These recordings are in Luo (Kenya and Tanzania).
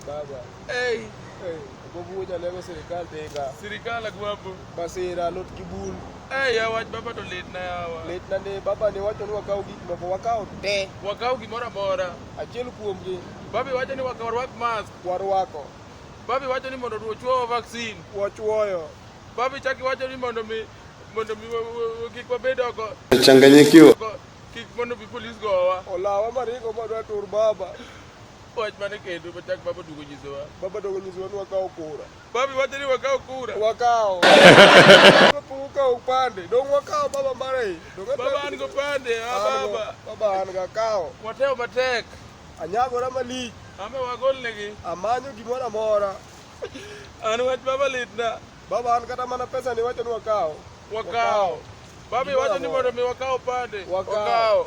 Baba. Hey. Hey. Bobu ja lego serikal denga. Serikal agwabu. Basira lot kibul. Hey, ya wach baba to lit na yawa. Lit na ne baba ne wacho ni wakaw gik moko wakaw te. Wakaw gimoro amora. Achiel kuom gi. Baba wacho ni wakaw rwak mask. Warwako. Baba wacho ni mondo ochuo vaccine. Wachuoyo. Baba chaki wacho ni mondo mi mondo mi kik wabed oko. Changanyikiwa. Kik mondo bi polis gowa. Olawa marigo madwa tur baba. Wach mane kendo machak baba dugo nyisowa. Baba dogo nyisowa ni wakawo kura. Babi wacho ni wakawo kura. Wakawo. Kapok ukawo upande, dong' wakawo baba mara e. Dong' atemo- Baba an go pande, ah, An go- baba. Baba an ga kawo. Watemo matek. Anyagora malich, Ame wagol negi. amanyo gimoro amora. An wach baba litna. Baba an kata mana pesa ni wacho ni wakawo. Wakawo. Babi Gimoro wacho ni amora. mondo mi wakawo pande. Wakawo. Wakawo.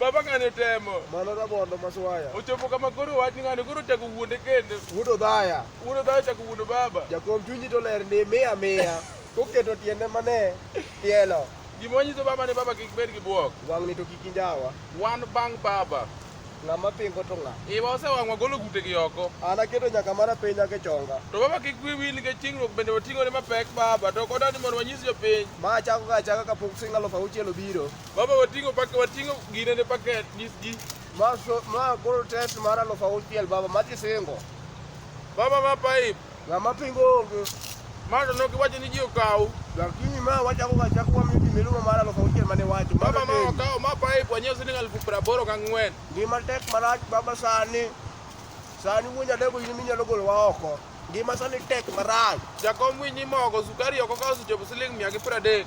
Baba ng'ani otemo. Mano rabondo maswaya. Ochopo kama koro wach ni ng'ani koro chako wuonde kendo. Wuodo dhaya. Wuodo dhaya chako wuodo baba. Jakom chunyi to ler ni miya miya. Koketo tiende mane tielo. Gima wanyiso baba ni baba kik bed gi buok. Wang' ni to kik injawa. Wan bang' baba. Ng'ama pingo to ng'a? Iwa osewang' wagolo gute gi oko. An aketo nyaka mana piny nyaka chonga. To baba kik wi wil nikech chingruok bende wating'ore mapek baba to koda ni mondo wanyis jopiny. Ma achako ga achaka kapok sing' alufu auchiel obiro. Baba wating'o pak wating'o gine ne paket nyisgi. Ma so ma koro test mar aluf auchiel baba ma kisingo. Baba ma pipe. Ng'ama pingo onge. Ma to nok iwacho ni ji okaw. Lakini ma wachako ga chako wa mimi milumo mar aluf auchiel mane wacho. Baba ma okaw ma pipe wanyiew siling aluf piero aboro gi ang'wen. Gima tek marach baba sani. Sani wuonja dego in minyalo golo wa oko. Gima sani tek marach. Jakom winyi mogo sukari oko kawo suchopo siling mia gi piero adek.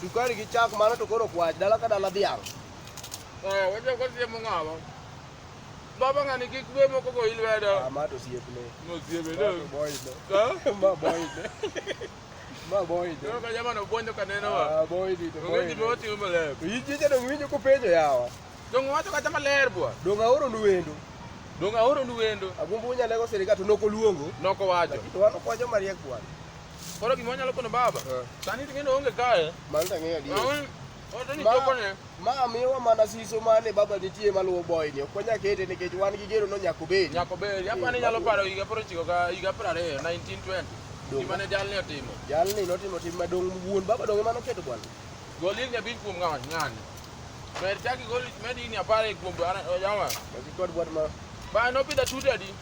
Sukari gi chak mano to koro kwach dala ka dala dhiang'. Eh, wacho ko siemo ng'awa. Baba ng'ani kik be moko go ilwedo. Ah, ma to siepne. No siebe Ma to boy ne. Ha? Ma boy ne. Ma boy ne. Yo ka jamano bwonjo ka neno wa. Ah, boy ni to boy. Ng'eji be ne. oting'o maler. To in chicha dong' winjo kupenjo yawa. Donge wacho kata maler bwa. Dong' aoro nu wendo. Donge aoro nu wendo. Agombo unyalego sirikal to nok oluongo. Noko wacho. Lakini to wan okwa joma riek bwana. Koro gima wanyalo kono baba. Eh. Sani ting'eni onge kae. Mano tang'eyo adier. Ma miwa mana siso mane baba nitie maluwo boy ni. Ok wanyal kete nikech wan gi gero no nyako bedi. Nyako bedi. Apa ni nyalo paro higa paro chiko ga higa paro ariyo 1920. Gima ne jalni otimo. Jalni notimo tim madong wuon baba donge mano keto bwana. Golin ya bin kuom ng'ani ng'ani. Mer chaki golin medi ni apare kuom jama. Kod bwana. Ba no pida tutadi.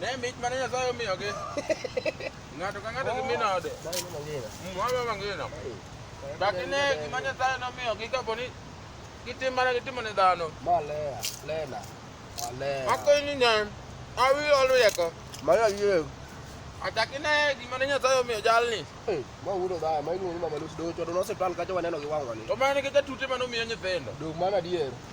Ne mich mane Nyasaye omiyogi. Ng'ato ka ng'ato gi min ode. Mama mangina. Baki ne gima Nyasaye nomiyogi kapo ni gitim mana gitimo ne dhano. Malea, lena, malea. Akonyi nyan, awi oluyeko. Maya yie. Achaki ne gima ne Nyasaye omiyo jalni. Ma wudo dhaya, ma iluongo ni mama Lucy Docho, to nosiptal kacha waneno gi wang'wa ni. To mane gi jatute mane omiyo nyithindo. Dog mana adier.